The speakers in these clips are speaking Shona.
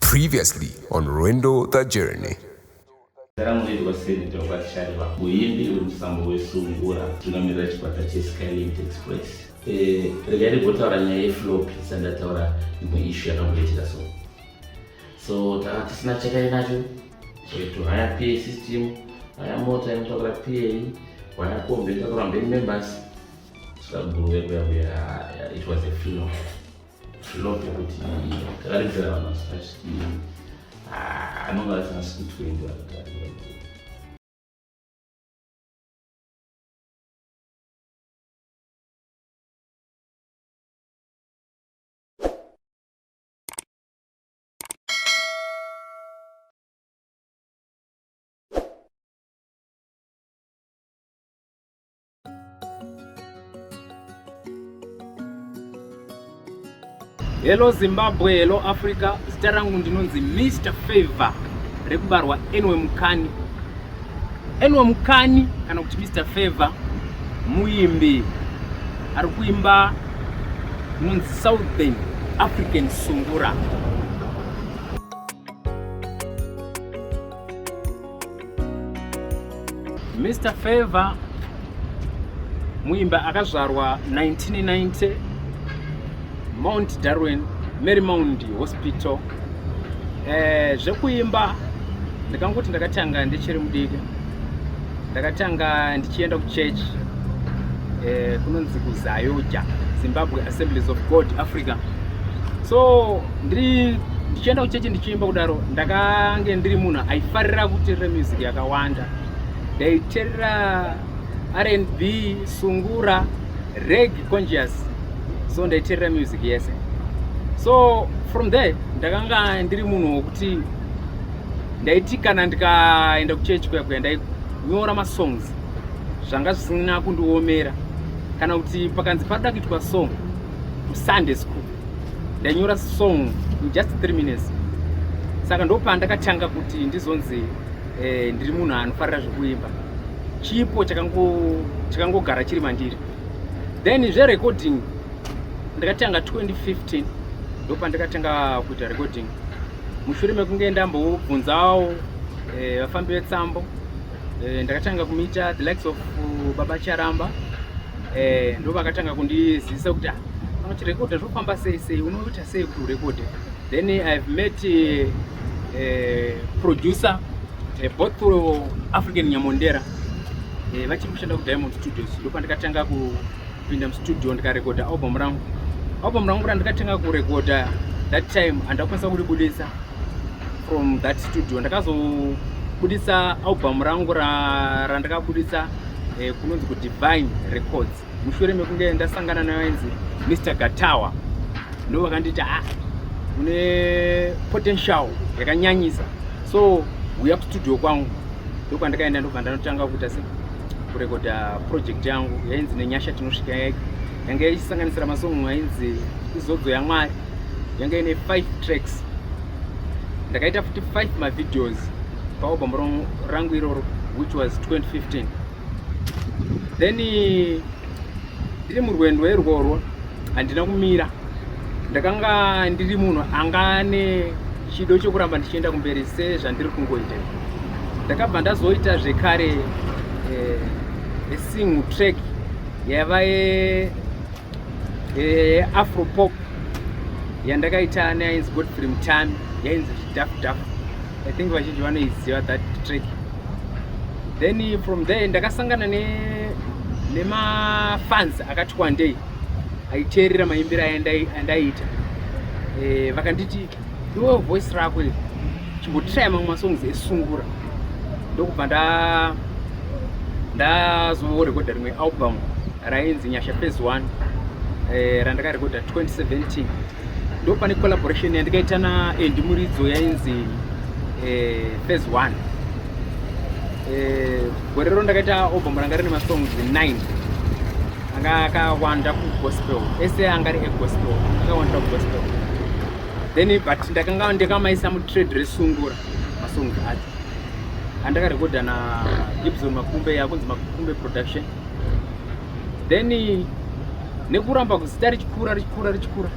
Previously on Rwendo the Journey. Saramureri waseneta wakaSharirwa, muimbi wemusambo weSungura, tungamirira chikwata cheSkylink Express. Eh, regai ndigotaura nyaya yeflopi isati ndataura imwe ishu yakamboitika so so tanga tisina chakari nacho soito haya pa system haya mota inotakura pa haya kombi inotakura mberi members saka guru yekuya kuya it was a funeral Love kuti takaredzera vanhu vasipashikiri ah, anonga asina siku 20 vakatarirwa Hello Zimbabwe, hello Africa. Zita rangu ndinonzi Mr Favor rekubarwa Enwe Mukani. Enwe Mukani kana kuti Mr Favor muimbi ari kuimba inonzi Southern African Sungura. Mr Favor muimba akazvarwa 1990 Mount Darwin Marymount Hospital eh, zvekuimba ndikangoti ndakatanga ndichiri mudiki ndakatanga ndichienda kuchechi eh, kunonzi kuzayoja zimbabwe assemblies of god africa so ndiri ndichienda kuchechi ndichiimba kudaro ndakange ndiri munhu aifarira kuterera music yakawanda ndaiterera rnb sungura reg conscious so ndaiterera music yese so from there ndakanga ndiri munhu wokuti ndaiti kana ndikaenda kuchechi kuya kuya ndainyora masongs zvanga zvisina kundiomera kana kuti pakanzi padoda kuitwa song kusunday school ndanyora song in just 3 minutes saka ndopandakatanga kuti ndizonzi eh, ndiri munhu anofarira zvekuimba chipo chakangogara chiri mandiri then zverecording ndakatanga 2015 ndopandakatanga kuita recording mushure mekunge ndambobvunzawo eh, vafambi eh, vetsambo eh, ndakatanga kumiita the likes of uh, baba charamba eh, ndovakatanga kundizivisa kuti ah, unochirekodha zvofamba sei sei unoita sei kuti urekodhe then i've met uh, uh, producer uh, both uh, african nyamondera uh, vachiri kushanda kudiamond studios ndopandikatanga kupinda mustudio ndikarekodha album rangu album rangu randikatanga kurekodha that time andakwanisa kuribudisa from that studio ndakazobudisa album rangu randakabudisa ra, ra eh, kunonzi kudivine records mushure mekunge ndasangana nevainzi mr gatawa ndo vakanditi a ah, une potential yakanyanyisa so uya kustudio kwangu ndokwandakaenda ndobva ndanotanga kuita se kurekoda project yangu yainzi nenyasha tinosvika yake yanga ichisanganisira masongo ainzi izodzo yamwari yanga ine five tracks ndakaita futi five mavideos paalbum rangu iroro which was 2015 then ndiri murwendo irworwo handina kumira ndakanga ndiri munhu anga ane chido chokuramba ndichienda kumberi sezvandiri kungoita ndakabva ndazoita zvekare eh, esingle track yaiva yeafropop yandakaita neainzi godfrey mutami yainzi zvidhafu dhafu i think vazhinji vanoiziva that track then from there ndakasangana ne nemafans akati kwandei aiteerera maimbiro aya andaiita eh, vakanditi iwe voice rako iri chimbotiraya mamwe masongs esungura ndokubva ndazorekodha rimwe album rainzi nyasha phase one eh, randakarekodha 2017 ndopane collaboration yandikaita naendi muridzo yainzi eh, phase one eh, gore rero ndakaita album ranga rine masongs 9 anga akawanda kugospel ese anga ari egospel akawanda kugospel then but ndakanga ndikamaisa mutrade resungura masong acho andakarekodha na ibson makumbe yakunzi makumbe production then nekuramba kuzita richikura richikura richikura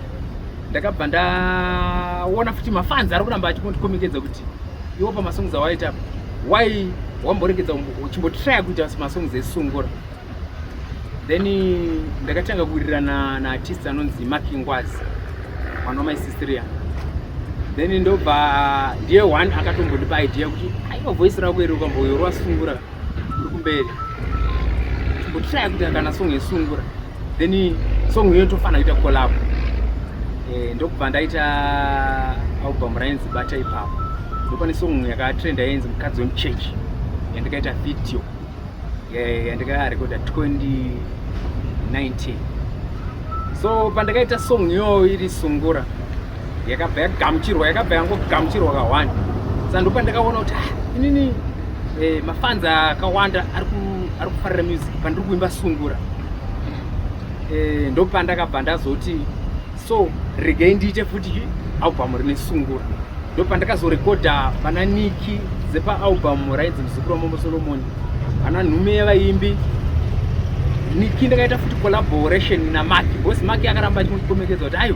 ndakabva ndaona futi mafanzi ari kuramba achikondikomekeza kuti iwo pamasongs awaita why wamboregedza uchimbotraya kuita masongs esungura then ndakatanga kuwirirana naartist anonzi makingwazi mwana wamaisistriya then ndobva ndiye one akatombondipa idea kuti aiwa voice rako iri ukamboyorwasungura kuri kumberi kutraya kuita kana song yesungura then song iyo tofanira kuita collab eh, ndokubva ndaita album rainzi bata ipapo ndopane song yakatrenda yainzi mukadzi wemuchechi yandikaita video yandikarekoda 2019 so pandakaita song iyoyo iri sungura yakabva yagamuchirwa yakabva yangogamuchirwa kahwani sa ndo pandakaona kuti ah, inini eh, mafanza akawanda ari kufarira music pandiri kuimba sungura eh, ndo pandakabva ndazoti so regei ndiite futi albhamu rine sungura ndo pandakazorekodha pana niki dzepaalbhamu rainzi muzukuru wamambo solomoni ana nhume yevaimbi niki ndakaita futi collaboration namaki bcause maki akaramba achimutikomekeza kuti ayo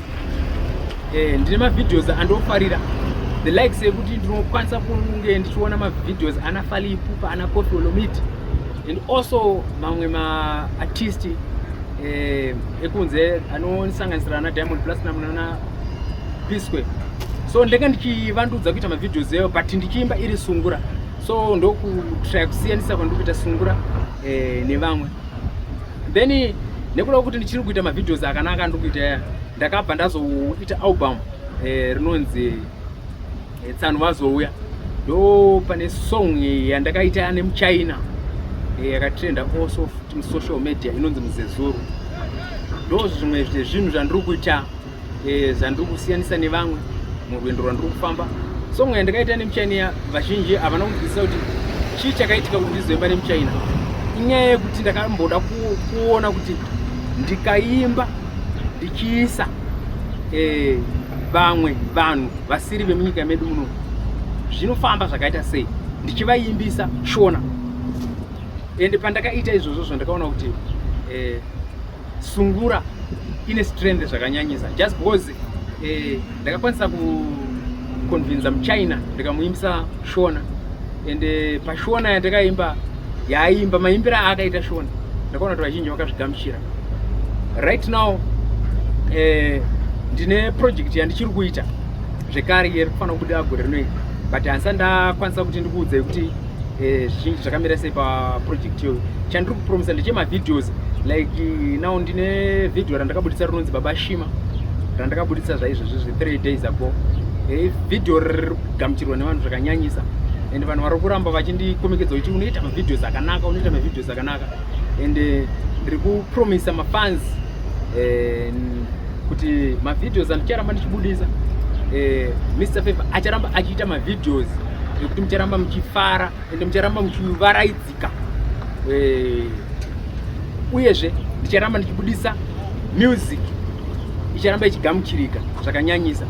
eh, ndine mavideos andofarira the likes ekuti ndinokwanisa kunge ndichiona mavideos ana fali ipupa ana kofi olomiti and also mamwe maartist eh, ekunze anosanganisira ana diamond platinum nana pisque so ndenge ndichivandudza kuita mavideos eyo but ndichiimba iri sungura so ndokutraya kusiyanisa kwandikuita sungura eh, nevamwe then nekuda kwekuti ndichiri kuita mavideos akanaka andiri kuita aya ndakabva ndazoita album eh, rinonzi eh, tsano vazouya ndo pane song yandakaita ane muchina eh, yakatrenda also social media inonzi muzezuru ndo zvimwe zvinhu zvandiri kuita eh, zvandiri kusiyanisa nevamwe murwendo rwandiri kufamba so mweya ndakaita nemuchaina ya vazhinji havana kunzwisisa kuti chii chakaitika kuti ndizoimba nemuchaina inyaya yekuti ndakamboda kuona kuti ndikaimba ndichiisa eh, vamwe vanhu vasiri vemunyika medu muno zvinofamba zvakaita sei ndichivaimbisa shona ende pandakaita izvozvo zvandakaona kuti eh, sungura ine strength zvakanyanyisa just because eh, ndakakwanisa kuconvinza muchina ndikamuimbisa shona and eh, pashona yandakaimba yaaimba maimbiro aakaita shona ndakaona kuti vazhinji vakazvigamuchira right now eh, ndine project yandichiri kuita zvekare yeri kufanira kubuda gore rinoita but hansa ndakwanisa kuti ndikuudzei kuti eh, zvizhinji zvakamira sei paproject iyoyo chandiri kupromisa ndechemavideos like now ndine video randakabuditsa rinonzi baba shima randakabuditsa zvaizvozvi zve three days ago eh, video riri kugamuchirwa nevanhu zvakanyanyisa and vanhu vari kuramba vachindikomekedzwa kuti unoita mavideos akanaka unoita mavideos akanaka and eh, ndiri kupromisa mafans eh, kuti mavideos andicharamba ndichibudisa eh, mr favor acharamba achiita mavideos nekuti mucharamba muchifara ende mucharamba muchivaraidzika eh, uyezve ndicharamba ndichibudisa music icharamba ichigamuchirika zvakanyanyisa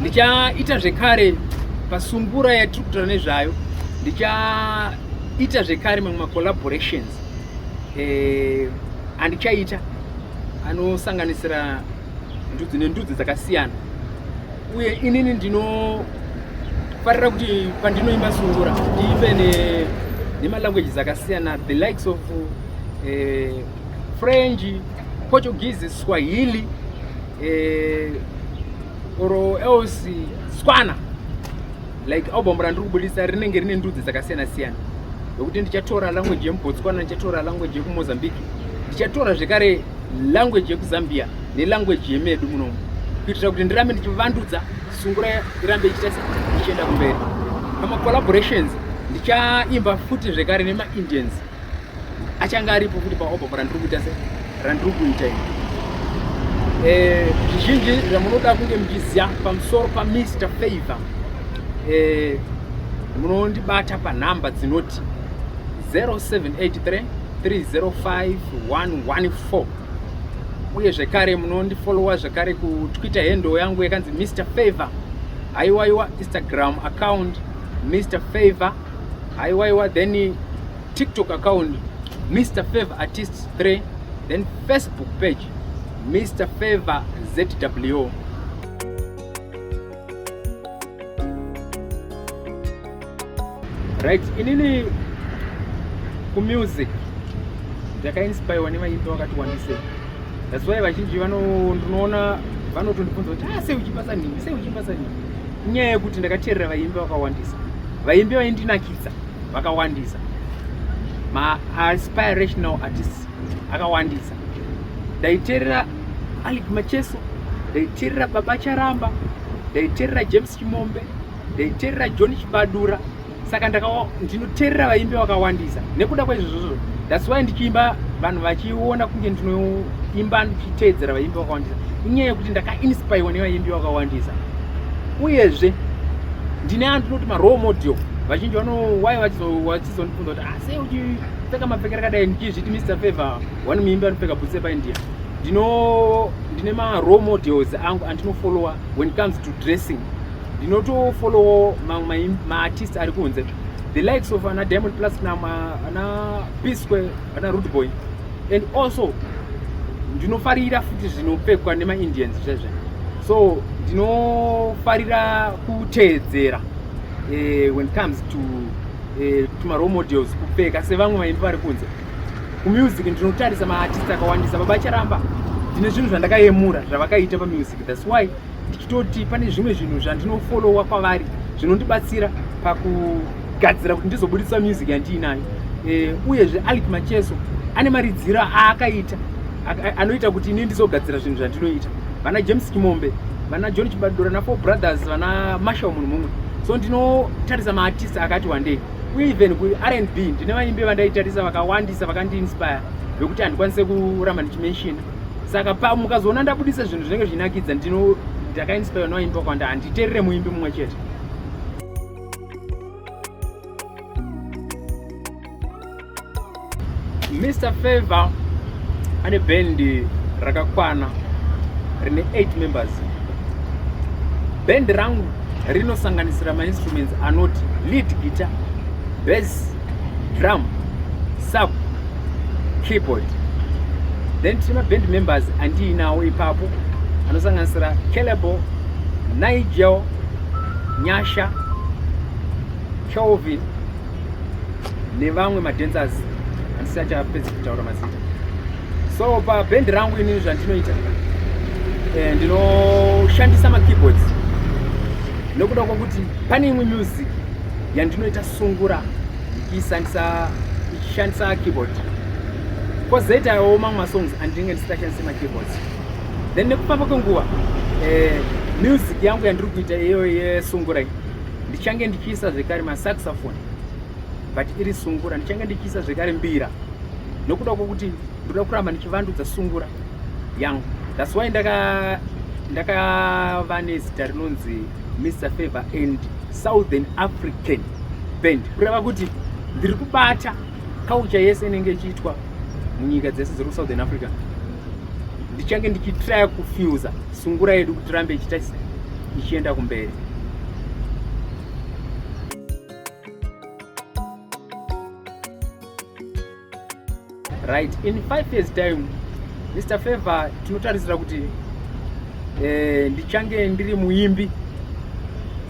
ndichaita zvekare pasungura yatiri kutaura nezvayo ndichaita zvekare mamwe macollaborations eh, andichaita anosanganisira ndudzi nendudzi dzakasiyana uye inini ndinofarira kuti pandinoimba sungura ndiimbe nemalanguages akasiyana the likes of eh, french portuguese swahili eh, or else swana like album randiri kubudisa rinenge rine ndudzi dzakasiyana siyana yokuti ndichatora language yemubotswana ndichatora language yekumozambique ndichatora zvekare language yekuzambia nelanguage yemedu munomu kuitira kuti ndirambe ndichivandudza sungura irambe ichita ichienda kumberi pamacollaborations ndichaimba futi zvekare nemaindians achange aripo futi paobhova randiri kuita se randiri kuita i eh, zvizhinji zvamunoda kunge muchiziva pamusoro pamr favor eh, munondibata panhamba dzinoti 0783 305114 uye zvekare munondifolowa zvekare kutwitter hendo yangu yakanzi mr favor haiwaiwa instagram account mr favor haiwaiwa then tiktok account mr favor artist 3 then facebook page mr favor zw Right, inini ku music ndakainspirewa nevaimbi wakati wandise that's why vazhinji ndinoona vanotondibvunza kuti ah sei uchipasa nhingi sei uchipasa nhingi inyaya yekuti ndakateerera vaimbi vakawandisa vaimbi vaindinakidza vakawandisa maaspirational artists akawandisa ndaiterera alic macheso ndaiterera baba charamba ndaiterera james chimombe ndaiterera john chibadura saka ndinoterera vaimbi vakawandisa nekuda kwaizvozvozvo thats why ndichiimba vanhu vachiona kunge ndinoimba ndichiteedzera vaimbi vakawandisa inyaya yekuti ndakainspirwa nevaimbi vakawandisa uyezve ndine andinoti marole model vazhinji vano why Ndizondibvunza kuti ah sei uchipfeka mapfekero akadai ndichizviti Mr Favor one muimbi anopfeka boots epaindia. Ndino ndine ma role models angu andinofollowa when it comes to dressing. Ndinotofollowa mamwe ma artist ari kunze. The likes of ana Diamond Platinum, ana P Square, ana Rude Boy and also ndinofarira futi zvinopfekwa nema Indians zvezve. So ndinofarira kuteedzera eh, when it comes to eh, to role models kupfeka sevamwe vaimbi vari kunze kumusic ndinotarisa maartist akawandisa baba charamba ndine zvinhu zvandakayemura zvavakaita pamusic thats why ndichitoti pane zvimwe zvinhu zvandinofolowa kwavari zvinondibatsira pakugadzira kuti ndizobudisa music yandiinayo eh, uyezve alic macheso ane maridziro aakaita anoita kuti ini ndizogadzira zvinhu zvandinoita vana james kimombe vana john chibadura nafour brothers vana marshal munhu mumwe so ndinotarisa maartist akati wandei uye even kurnb ndine vaimbi vandaitarisa vakawandisa vakandiinspire vekuti handikwanise kuramba ndichimenshina saka pa mukazoona ndabudisa zvinhu zvinenge zvichinakidza ndino ndakainspire noimba kwanda handiterere muimbi mumwe chete Mr Favor ane bendi rakakwana rine 8 members. Bendi rangu rinosanganisira mainstruments anoti lead guitar, bass, drum, sub, keyboard. Then tine maband members andiinawo ipapo anosanganisira Calebo, Nigel, Nyasha, Kelvin nevamwe madancers andisi achapedza kutaura mazita so paband rangu inini zvandinoita eh, ndinoshandisa makeyboards nokuda kwokuti pane imwe music yandinoita sungura ndichiishandisa ichishandisa keyboard kozoitawo mamwe masongs andinenge ndisingachandise makeyboards then nekufamba kwenguva eh, music yangu yandiri kuita iyoyo yesungura iyi ndichange ndichiisa zvekare masaxophone but iri sungura ndichange ndichiisa zvekare mbira nokuda kwokuti ndoda kuramba ndichivandudza sungura yangu thats why ndakava ndaka nezita rinonzi mr favor and southern african band kureva kuti ndiri kubata kaucha yese inenge ichiitwa munyika dzese dziri kusouthern africa ndichange ndichitraya kufusa sungura yedu kuti rambe ichita ichienda kumberi right in five years time mr favor tinotarisira kuti eh, ndichange ndiri muimbi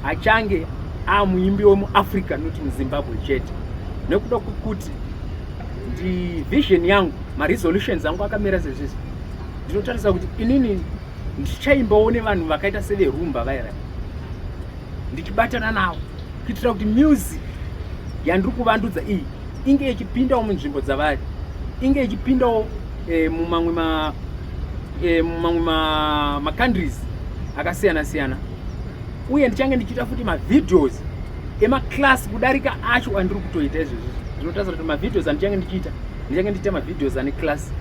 achange amuimbi wemuafrica not muzimbabwe chete nekuda kwekuti ndi vision yangu maresolutions angu akamira sezvizvi ndinotarisa kuti inini ndichaimbawo nevanhu vakaita severumba vaira ndichibatana navo kuitira kuti music yandiri kuvandudza iyi inge ichipindawo munzvimbo dzavari inge ichipindawo eh, mumamwe ma eh, mumamwe macountries akasiyana siyana uye ndichange ndichiita futi mavideos emaclass kudarika acho andiri kutoita izvezvi zvinotarisira kuti mavideos andichange ndichiita ndichange ndichiita mavideos ane class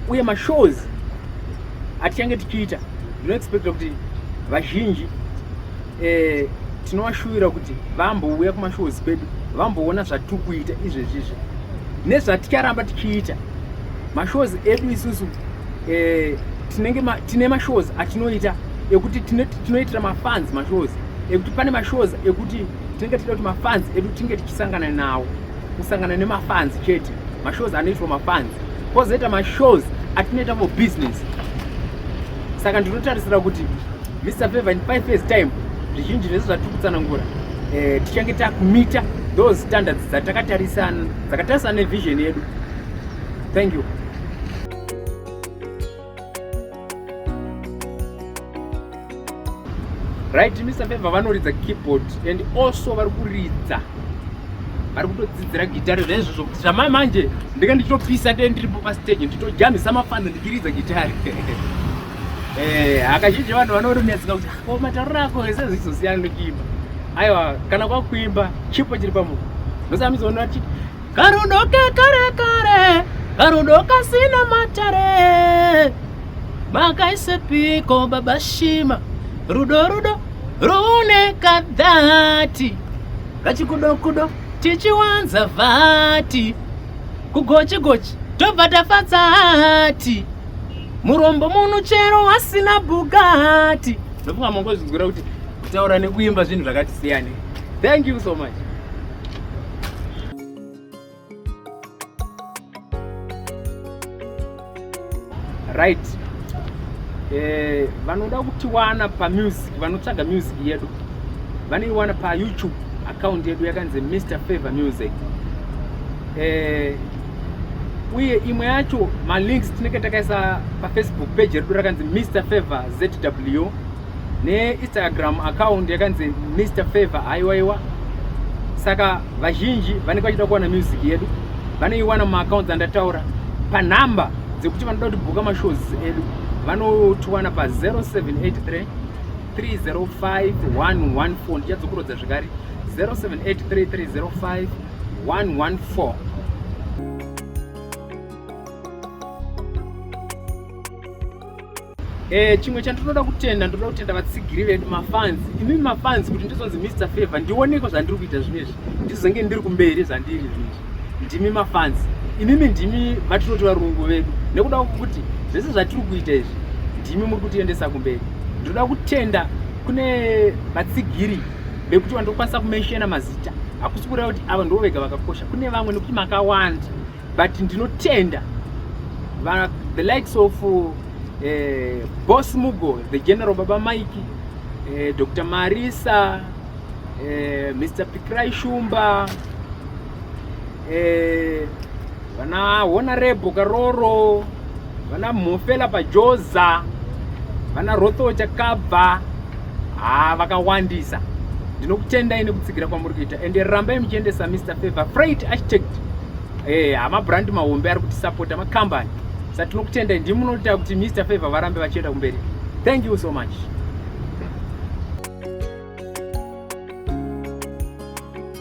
uye mashows atichange tichiita zvinoexpecta kuti vazhinji eh, tinovashuvira kuti vambouya kumashows kwedu vamboona zvatiri kuita izvezvizvi nezvaticharamba tichiita mashows edu isusu eh, tinenge ma, tine mashows atinoita ekuti tinoitira mafans mashows ekuti pane mashows ekuti tinenge tichida kuti mafans edu tinge tichisangana nawo kusangana nemafans chete mashows anoitwa mafans kozoita mashows atinoita for business saka ndinotarisira kuti mr favor in five years time zvizhinji zvese zvatiri kutsanangura eh, tichange takumita those standards dzatakatarisana dzakatarisana nevision yedu thank you right mr feva vanoridza keyboard and also vari kuridza vari kutodzidzira gitare zvaizvozvo zvamai manje ndinge ndichitopisa te ndiripo pastage nditojamisa mafano ndichiridza gitare eh, hakazhinji vanhu vanorinetseka kuti ko oh, matauriro ako ese zvichizosiyana nekuimba aiwa kana kwakuimba chipo chiri pamunhu ndosamizoona chii Karudo kekare kare, karudo kasina matare. Makaisepiko baba Shima? Rudo rudo rune kadhati, kachikudo kudo tichiwanza vati, kugochi gochi tobva tafadza hati, murombo muno chero wasina Bugatti. Ndofunga mongozvinzwira kuti kutaura nekuimba zvinhu zvakati siyane. Thank you so much. right eh, vanoda kutiwana pamusic vanotsvaga music yedu vanoiwana payoutube account yedu yakanzi mr favor music eh, uye imwe yacho malinks tinenge takaisa pafacebook page redu rakanzi mr favor zw neinstagram account yakanzi mr favor haiwaiwa saka vazhinji vanenge vachida kuwana music yedu vanoiwana mumaaccounts andataura panhamba dzekuti vanoda kuti bhuka mashows edu vanotiwana pa 0783 305114 ndichadzokurodza zvekare 0783 305114 thank you Eh, chimwe chandinoda kutenda ndoda kutenda vatsigiri vedu mafans imi mafans kuti ndizonzi Mr Favor ndioneko zvandiri kuita zvinezvi ndizonge ndiri kumberi zvandiri zvinezvi ndimi mafans imimi ndimi vatinoti varungu vedu nekuda kwekuti zvese zvatiri kuita izvi ndimi muri kutiendesa kumberi ndinoda kutenda kune vatsigiri vekuti vandokwanisa kumenshena mazita hakusi kureva kuti ava ndivo vega vakakosha kune vamwe nekuti makawanda but ndinotenda the likes of uh, eh, boss mugo the general baba mike uh, eh, dr marisa uh, eh, mr pikrai shumba uh, vana honorable karoro vana mhofela pajoza vana rotho chakabva haa vakawandisa ndinokutendai nekutsigira kwamuri kuita ende rambai muchiendesa mr favor freight architect eh, hamabrandi mahombe ari kutisapota makambani sa tinokutendai ndimi munoita kuti mr favor varambe vachienda kumberi thank you so much